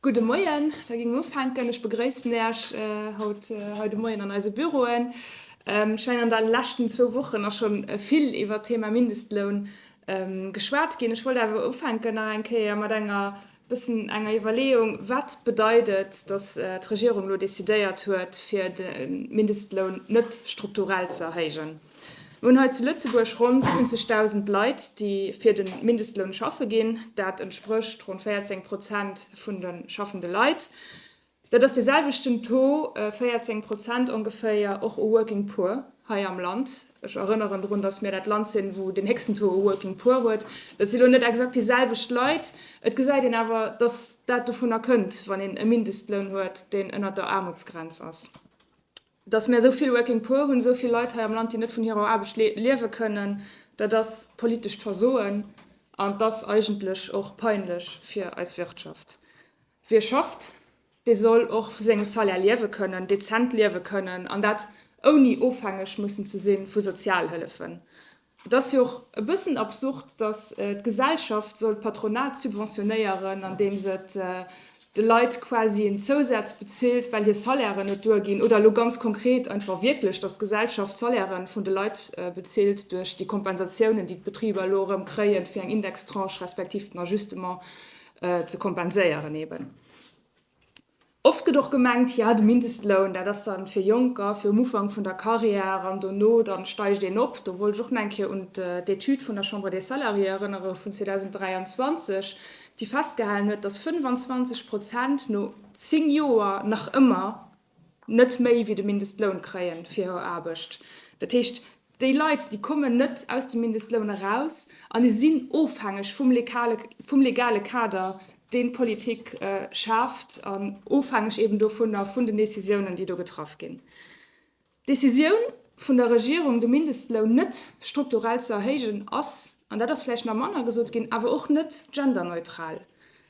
Gudde Moien, da ginn mer ufänken. Ech begréissen Äech haut hei de Moien an eise Büroen. Ech mengen, an de leschten zwou Wochen ass scho vill iwwert d'Thema Mindestloun geschwat ginn. Ech wollt awer ufänken nach eng Kéier mat enger bëssen enger Iwwerleeung, Wat bedeit et, datt d'Regierung elo decidéiert huet, fir de Mindestloun net strukturell ze erhéijen? Mir hunn hei zu Lëtzebuerg ronn 70.000 Leit, déi fir de Mindestloun schaffe ginn. Dat entsprécht ronn 14 Prozent vun de schaffende Leit. Dat ass dee selwechten Taux, 14 Prozent ongeféier, och u Working Poor hei am Land. Ech erënneren drun, datt mir dat Land sinn, wou den héchsten Taux u Working Poor huet. Dat si lo net exakt déi selwecht Leit. Et gesäit een awer, datt dat dovunner kënnt, wann een e Mindestloun huet, deen ënner der Aarmutsgrenz ass. Dass mir esou vill Working Poor hunn, esou vill Leit hei am Land, déi net vun hirer Aarbecht liewe kënnen, dat ass politescht Versoen an et ass eigentlech och peinlech fir eis Wirtschaft. Wie schafft, dee soll och vu sengem Salaire liewe kënnen, dezent liewe kënnen an dat ouni ofhängeg mussen ze si vu Sozialhëllefen. Et ass jo och e bëssen absurd, datt d'Gesellschaft soll d'Patronat subventionéieren, andeem se de Leit quasi en Zousaz bezilt, well hir Salairen net duerginn, oder elo ganz konkret einfach wierklech, datt d'Gesellschaft d'Salairen vun de Leit bezilt duerch déi Kompensatiounen, déi d'Betriber elo erëm kréien, fir eng Indextranche respektiv den Ajustement ze kompenséieren eeben. Oft gëtt och gemengt, jo de Mindestloun, dat ass da fir Jonker, fir um Ufank vun der Carrière an dono da steigt een op. Do wollt ech och nach eng Kéier un d'Etüd vun der Chambre des Salariés erënnere vun 2023, déi festgehalen huet, dass 25 Prozent no zéng Joer nach ëmmer net méi wéi de Mindestloun kréien fir hir Aarbecht. Dat heescht, déi Leit, déi kommen net aus dem Mindestloun eraus an déi sinn ofhängeg vum legale Kader, deen d'Politik schaaft, an ofhängeg eben dovunner, vun den Décisiounen, déi do getraff ginn. D'Décisioun vun der Regierung, de Mindestloun net strukturell ze erhéijen, ass, an dat ass vläicht nach manner gesot ginn, awer och net genderneutral.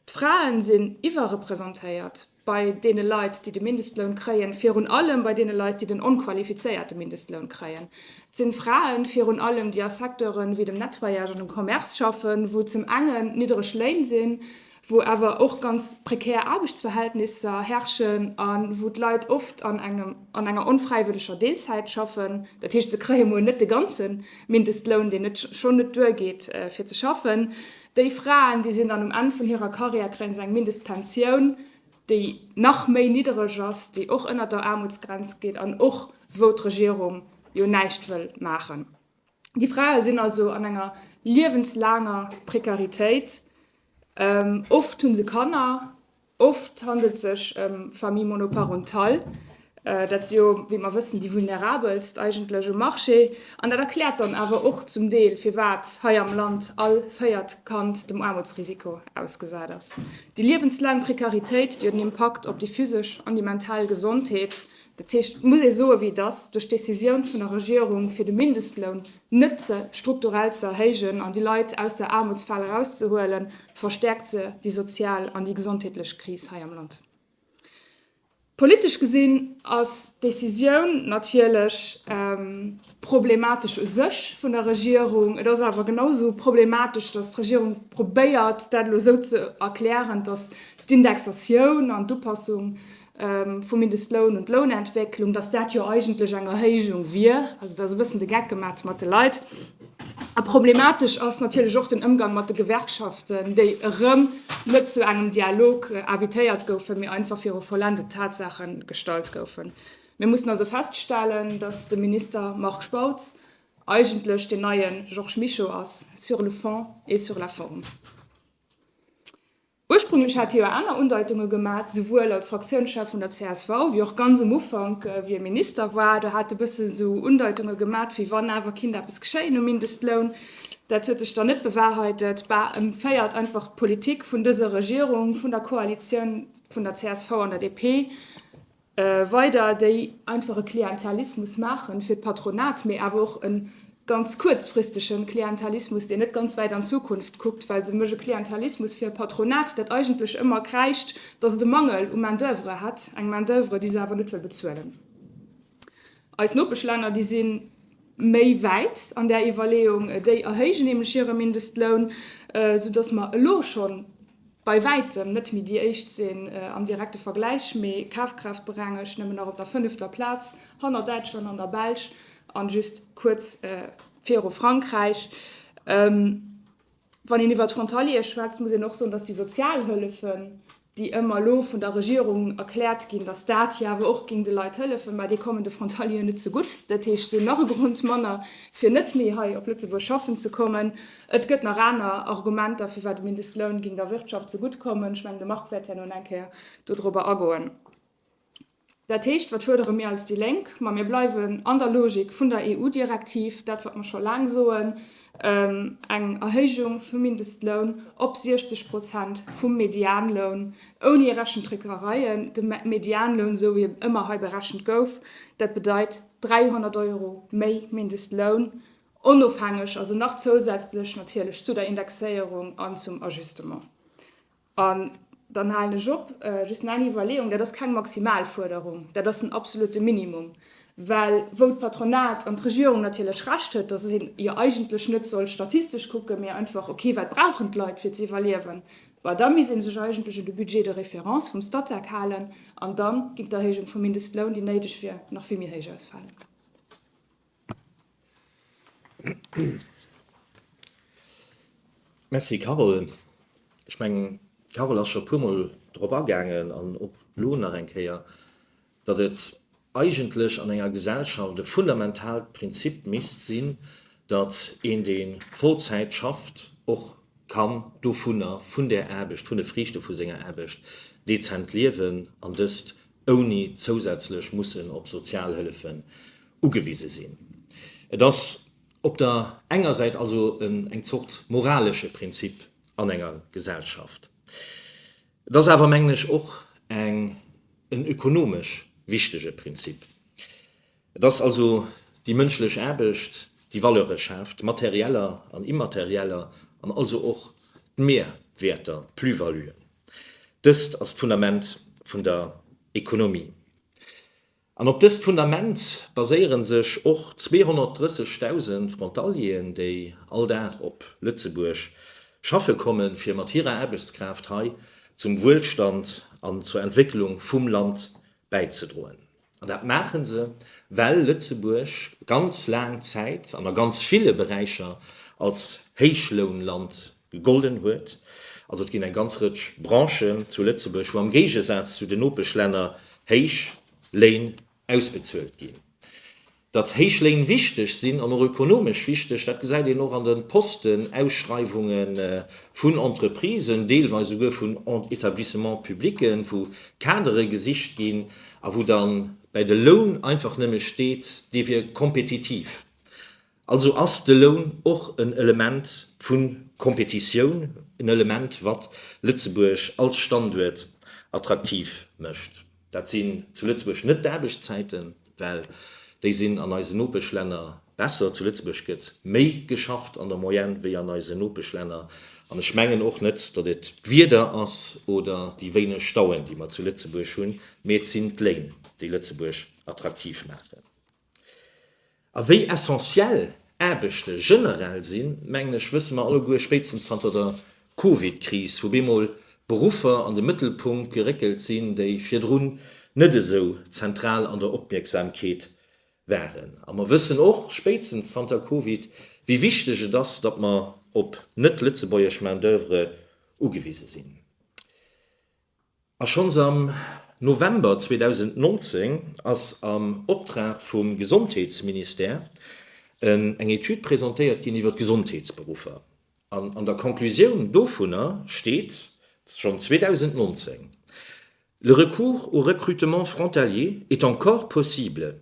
D'Frae sinn iwwerrepresentéiert. bei deene Leit, déi de Mindestloun kréien, virun allem bei deene Leit, déi den onqualifizéierte Mindestloun kréien. Et sinn d'Fraen virun allem, déi a Secteuren wéi dem Nettoyage an dem Commerce schaffen, wou zum engen niddereg Léin sinn, wou awer och ganz prekär Aarbechtsverhältnisser herrschen a wou d'Leit oft an enger onfräiwëlleger Deelzäit schaffen. Dat heescht, se kréie mol net de ganze Mindestloun, deen net schonn net duergeet fir ze schaffen. Déi Fraen, déi sinn dann um Enn vun hirer Karriär, kréien se eng Mindestpensioun, déi nach méi niddereg ass, déi och ënnert der Aarmutsgrenz geet an och wou d'Regierung jo näischt wëll maachen. Déi Frae sinn also an enger liewenslaanger Prekaritéit. Oft hu se Kanner. Oft handelt et sech ëm Famille monoparentale. Dat si jo, wéi mer wëssen, déi vulnerabelst eigentlech um Marché. An dat erkläert dann awer och zum Deel, firwat hei am Land all véiert Kand dem Aarmutsrisiko ausgesat ass. Déi liewenslaang Prekaritéit, déi huet en Impakt op déi physesch an déi mental Gesondheet. Dat heescht, et muss ee soen, wéi et ass, Duerch d'Decisioun vun der Regierung, fir de Mindestloun net strukturell ze erhéijen an déi Leit aus der Aarmutsfal erauszehuelen, verstäerkt se déi sozial an déi gesondheetlech Kris hei am Land. Politesch gesinn ass d'Decisioun natierlech problematesch u sech vun der Regierung. Et ass awer genausou problematesch, datt d'Regierung probéiert, dat elo esou ze erklären, datt d'Indexatioun an d'Upassung vum Mindestloun un d'Lounentwécklung, dass dat jo eigentlech eng Erhéijung wier. Also da ass e bëssen de Geck gemat mat de Leit. A problematesch ass natierlech och den Ëmgang mat de Gewerkschaften, déi erëm net zu engem Dialog invitéiert goufen, mee einfach viru vollendet Tatsaache gestallt goufen. Mir mussen also feststellen, dass de Minister Marc Spautz eigentlech deen neie Georges Mischo ass, sur le fond et sur la forme. Ursprünglech hat hie jo aner Undeutunge gemat, souwuel als Fraktiounschef vun der csv, wéi och ganz um Ufank, wéi e Minister war. Do hat e bësse esou Undeutunge gemat, wéi wann awer kinnt eppes geschéien um Mindestloun. Dat huet sech dann net bewahrheitet. Bah, e féiert einfach d'Politik vun dëser Regierung, vun der Koalitioun vun der csv an der DP. weider déi einfach e Klientelismus maachen fir d'Patronat, mee awer och e ganz kuerzfristege Klientelismus, deen net ganz wäit an d'Zukunft kuckt, well se méch e Klientelismus fir e Patronat, dat eigentlech ëmmer kräischt, datt et e Mangel u Main-d'oeuvre hätt, eng Main-d'oeuvre, déi se awer net wëll bezuelen. Eis Nopeschlänner, déi si méi wäit an där Iwwerleeung, déi erhéijen nämlech hire Mindestloun, soudatt mer elo schonn bei wäitem net méi déi éischt sinn am direkte Vergläich, mee kafkraaftberengegt nëmmen nach op der fënnefter Plaz, hanner Däitschland an der Belsch an just kuerz viru Frankräich. Wann een iwwer d'Frontaliere schwätzt, muss een och soen, dass déi Sozialhëllefen, déi ëmmer elo vun der Regierung erkläert ginn, dass dat jo awer och géing de Leit hëllefen, mä déi kommen de Frontalieren net ze gutt. Dat heescht, se hunn nach e Grond manner, fir net méi hei op Lëtzebuerg schaffen ze kommen. Et gëtt nach aner Argumenter, firwat de Mindestloun géing der Wirtschaft zegutt kommen. Ech mengen, de Marc wäert herno nach eng Kéier dodrobber agoen. Dat heescht, wat fuerdere mir als déi Lénk? Ma mir bleiwen an der Logik vun der EU-Direktiv, dat wat mer scho laang soen, eng Erhéijung vum Mindestloun op 60 Prozent vum Medianloun, ouni Rechentricksereien. De Medianloun, esou wéi en ëmmer hei berechent gouf, dat bedeit 300 Euro méi Mindestloun onofhängeg, also nach zousätzlech natierlech zu der Indexéierung an zum Ajustement. An dann halen ech op, just nach eng Iwwerleeung, Dat ass keng maximal Fuerderung, dat ass den absolute Minimum, well wou d'Patronat an d'Regierung natierlech Recht huet, dass een jo eigentlech net soll statistesch kucken, mee einfach, okay, wat brauchen d'Leit, fir ze iwwerliewen, bah, da misst ee sech eigentlech un de Budget de référence vum Statec halen an da géing d'Erhéijung vum Mindestloun, déi néideg wier, nach vill méi héich ausfalen. Merci Carole. Ech mengen d'Carole ass scho puermol drop agaangen an och elo nach eng Kéier, datt et eigentlech an enger Gesellschaft e fundamentaalt Prinzip misst sinn, datt een dee Vollzäit schafft och kann dovunner, vun där Aarbecht, vun de Friichte vu senger Aarbecht dezent liewen an dëst ouni zousätzlech mussen op Sozialhëllefen ugewise sinn. Et ass op der enger Säit also eng Zort moralesche Prinzip an enger Gesellschaft. Et ass awer, mengen ech, och en ökonomesch wichtege Prinzip. Et ass also déi mënschlech Aarbecht, déi Valeure schaaft, materieller an immaterieller, an also och d'Mehrwerter, d'Plus-valuen. Dëst ass d'Fundament vun der Ekonomie. An op dëst Fundament baséiere sech och 230.000 Frontalieren, déi all Dag op Lëtzebuerg schaffe kommen, fir mat hirer Aarbechtskraaft hei zum Wuelstand an zur Entwécklung vum Land bäizedroen. An dat maache se, well Lëtzebuerg ganz laang Zäit an a ganz ville Beräicher als Héichlounland gegolden huet. Also et ginn eng ganz Rëtsch Branchen zu Lëtzebuerg, wou am Géigesaz zu den Nopeschlänner héich Léin ausbezuelt ginn. Datt héich Léin wichteg sinn, an och ökonomesch wichteg, dat gesäit een och an de Postenausschreiwunge vun Entreprisen, deelweis esouguer vun Etablissements publics, wou Kadere gesicht ginn a wou da bäi de Loun einfach nëmme steet, dee wier kompetitiv. Also ass de Loun och en Element vu Kompetitioun, en Element, wat Lëtzebuerg als Standuert attraktiv mécht. Dat sinn zu Lëtzebuerg net d'Aarbechtszäiten, well déi sinn an eisen Nopeschlänner besser. Zu Lëtzebuerg gëtt méi geschafft an der Moyenne wéi an eisen Nopeschlänner. An ech mengen och net, datt et d'Wieder ass oder déi wéineg Stauen, déi mer zu Lëtzebuerg hunn, mee et sinn d'Léin, déi Lëtzebuerg attraktiv maachen. A wéi essentiell Aarbechte generell sinn, mengen ech, wësse mer alleguer spéitstens zanter der Covid-Kris, wou bemol Beruffer an de Mëttelpunkt geréckelt sinn, déi virdrun net esou zentral an der Opmierksamkeet waren. A mer wëssen och spéitstens zanter Covid, wéi wichteg et ass, datt mer op net-lëtzebuergesch Main-d'oeuvre ugewise sinn. A schonns am November 2019 ass am Optrag vum Gesondheetsministère eng Etüd presentéiert ginn iwwer d'Gesondheetsberuffer. An an der Conclusioun dovunner steet schonn 2019, Le recours au recrutement frontalier est encore possible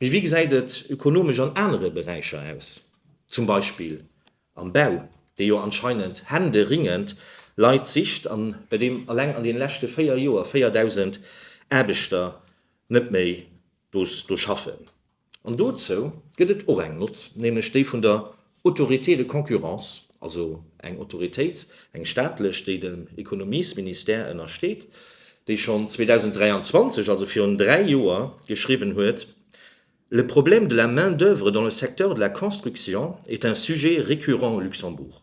Mee wéi gesäit et ökonomesch an anere Beräicher aus, zum Beispill am Bau, dee jo anscheinend händeringend Leit sicht an bei deem alleng an deene leschte véier Joer 4.000 Aarbechter net méi do schaffen? An dozou gëtt et och eng Nott, nämlech déi vun der Autorité de concurrence, also eng Autoritéit, eng staatlech, déi dem Ekonomiesministère ënnersteet, déi schonn 2023, also virun dräi Joer, geschriwwen huet, Le problème de la main-d'œuvre dans le secteur de la construction est un sujet récurrent au Luxembourg.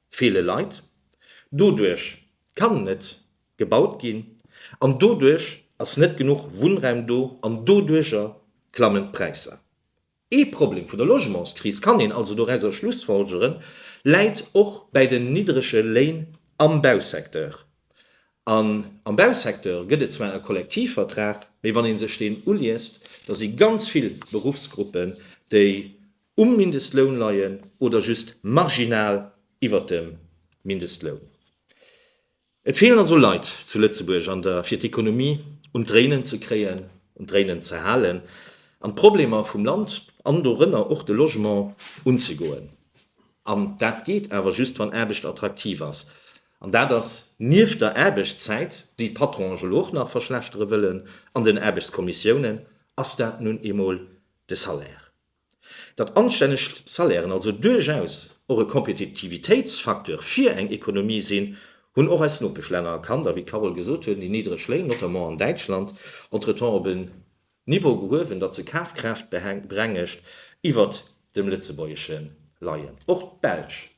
feele Leit, doduerch kann net gebaut ginn an doduerch ass net genuch Wunnraum do an doduerjer klammen d'Präisser. Ee Problem vun der Logementskris, kann een also dorauser schlussfolgeren, läit och bäi den niddrege Léin am Bausecteur. An am Bausecteur gëtt et zwar e Kollektivvertrag, mee wann ee sech deen uliest, da si ganz vill Beruffsgruppen, déi um Mindestloun leien oder just marginal iwwert dem Mindestloun. Et feelen also Leit zu Lëtzebuerg an der fir d'Ekonomie un d'Dréinen ze kréien, un d'Dréinen ze halen an d'Problemer vum Land, an dorënner och de Logement, unzegoen. An dat geet awer just wann Aarbecht attraktiv ass. An dat ass nieft der Aarbechtszäit, déi d'Patronen elo och nach verschlechtere wëllen, an den Aarbechtskommissiounen, ass dat nun eemol de Salaire. datt anstänneg Salairen also duerchaus och e Kompetitivitéitsfacteur fir eng Ekonomie sinn, hunn och eis Nopeschlänner erkannt. A wéi d'Carole gesot huet, déi niddreg Léin, notamment an Däitschland, entretemps op en Niveau gehuewen, datt se Kafkraaft berengegt iwwert dem lëtzebuergesche leien. Och d'Belsch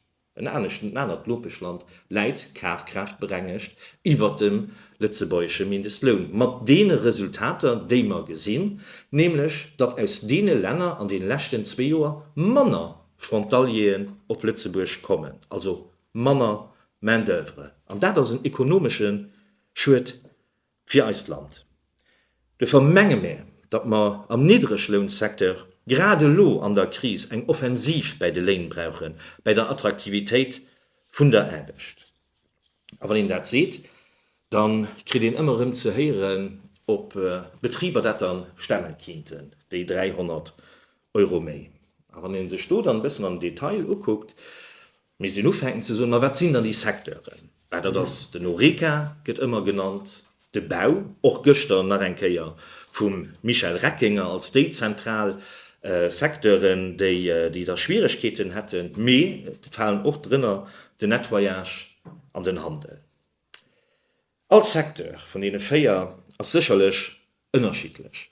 En aneschten anert Nopeschland läit kafkraaftberengecht iwwert dem lëtzebuergesche Mindestloun, mat deene Resultater, déi mer gesinn, nämlech datt aus deene Länner an deene leschten zwee Joer manner Frontalieren op Lëtzebuerg kommen, also manner Main-d'oeuvre. An dat ass en ekonomesche Schued fir eist Land. Duerfir menge mär, datt mer am Niddreglounsecteur grad elo an der Kris eng Offensiv bäi de Léin brauchen, bäi der Attraktivitéit vun der Aarbecht. A wann een dat seet, da kritt een ëmmer erëm ze héieren, ob d'Betriber dat da stemme kinnten, déi 300 Euro méi. A wann ee sech do dann e bëssen am Detail ukuckt, Misst een ufänken ze soen, ma wat sinn dann déi Secteuren? Well dat ass, den Horeca gëtt ëmmer genannt, de Bau, och gëschter nach eng Kéier vum Michel Reckinger, als déi zentral Secteuren, déi da Schwieregkeeten hätten, mee et falen och drënner den Nettoyage an den Handel. All Secteur vun deene véier ass sécherlech ënnerschiddlech,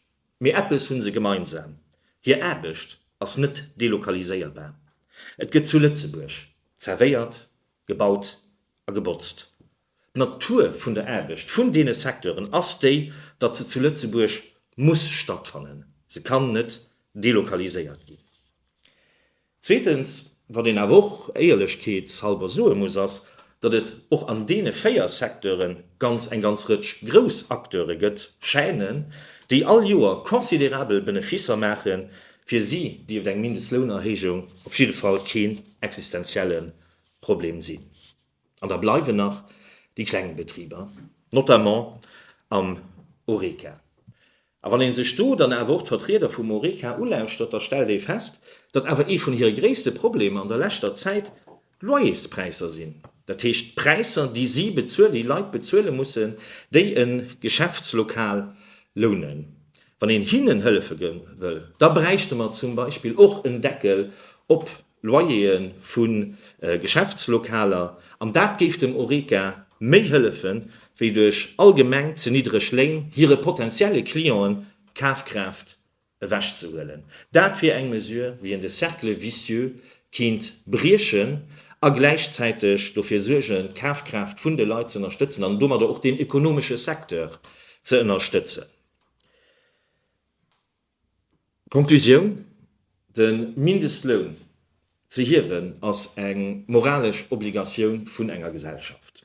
mee eppes hu se gemeinsam, hir Aarbecht ass net delokaliséierbar. Et gëtt zu Lëtzebuerg zerwéiert, gebaut a gebotzt. D'Natur vun der Aarbecht vun deene Secteuren ass déi, datt se zu Lëtzebuerg muss stattfannen, se kann net delokaliséiert ginn. Zweetens, wat een awer och éierlechkeetshalber soe muss, ass, datt et och an deene véier Secteuren ganz eng ganz Rëtsch grouss Acteure gëtt, Chaînen, déi all Joer considérabel Beneficer maachen. Fir si dierft eng Mindestlounerhéijung op jidde Fall keen existenzielle Problem sinn. An da bleiwen nach déi kleng Betriber, notamment am Horeca. A wann ee sech do dann awer och d'Vertrieder vum Horeca ulauschtert, da stellt ee fest, datt awer ee vun hire gréisste Problemer an der leschter Zäit d'Loyerspräisser sinn. Dat heescht d'Präisser, déi si bezuelen, déi Leit bezuele mussen, déi e Geschäftslokal lounen. Wann een hinnen hëllefe wëll, da bräichte mer zum Beispill och en Deckel op Loyer'e vu Geschäftslokaler, an dat géif dem Horeca méi hëllefen, wéi duerch allgemeng ze niddreg Léin hire potentielle Clientë d'Kafkraaft ewech ze huelen. Dat wier eng Mesure, wéi een de Cercle vicieux kéint briechen a gläichzäiteg dofir suergen, d'Kafkraaft vun de Leit z'ënnerstëtzen an domadder och deen ekonomesche Secteur ze ënnerstëtzen. D'Konklusioun, De Mindestloun ze hiewen ass eng moralesch Obligatioun vun enger Gesellschaft,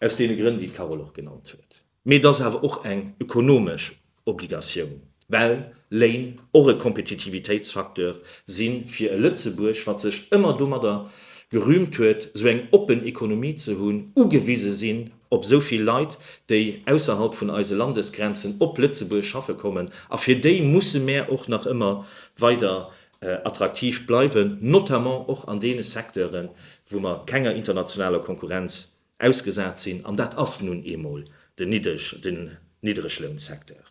aus deene Grënn, déi d'Carole och genannt huet, mee et ass awer och eng ökonomesch Obligatioun, well Léin och e Kompetitivitéitsfacteur si fir e Lëtzebuerg, wat sech ëmmer domadder gerühmt huet, esou eng oppen Ekonomie ze hunn, ugewise sinn op esou vill Leit, déi ausserhalb vun eise Landesgrenzen op Lëtzebuerg schaffe kommen, a fir déi musse mär och nach ëmmer weider attraktiv bleiwen, notamment och an deene Secteuren, wou mer kenger internationaler Konkurrenz ausgesat sinn, an dat ass nun eemol den Niddreglounsecteur.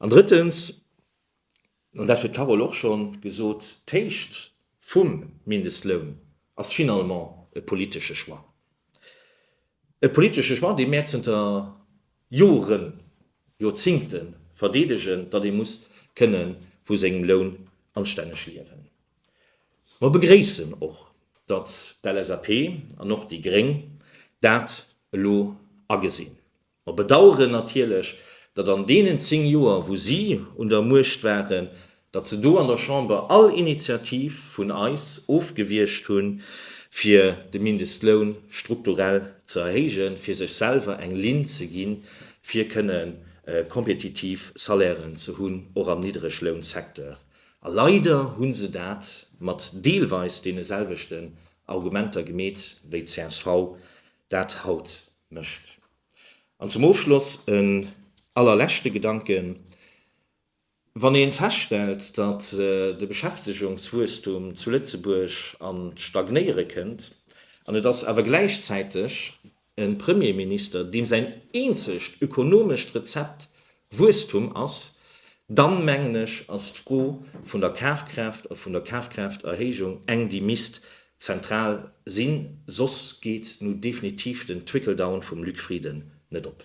An drëttens. an dat huet d'Carole och scho gesot, d'Héicht vum Mindestloun ass finalement e politesche Choix. E politesche Choix, dee mär zënter Joren, Joerzingte verdeedegen, datt ee muss kënne vu sengem Loun anstänneg liewen. Mer begréissen och, datt d'LSAP an och déi gréng dat elo agesinn. Mer bedaueren natierlech, datt an deenen zéng Joer, wou si un der Muecht waren, datt se do an der Chamber all Initiativ vun eis ofgewiescht hunn, fir de Mindestloun strukturell ze erhéijen, fir sech selwer eng Linn ze ginn, fir kënne kompetitiv Salairen ze hunn, och am Niddreglounsecteur. A leider hu se dat mat deelweis deene selwechten Argumenter gemeet, wéi d'CSV dat haut Mécht. An zum Ofschloss en allerleschte Gedanken, Wann ee feststellt, datt de Beschäftegungswuesstum zu Lëtzebuerg an d'Stagnéiere kënnt, an et ass awer gläichzäiteg e Premierminister, deem säin eenzegt ökonomescht Rezept Wuesstum ass, dann mengen ech, ass d'Fro vun der Kafkraaft a vun der Kafkraafterhéijung eng, déi misst zentral sinn, soss geet nu definitiv den Trickle-down vum Luc Frieden net op.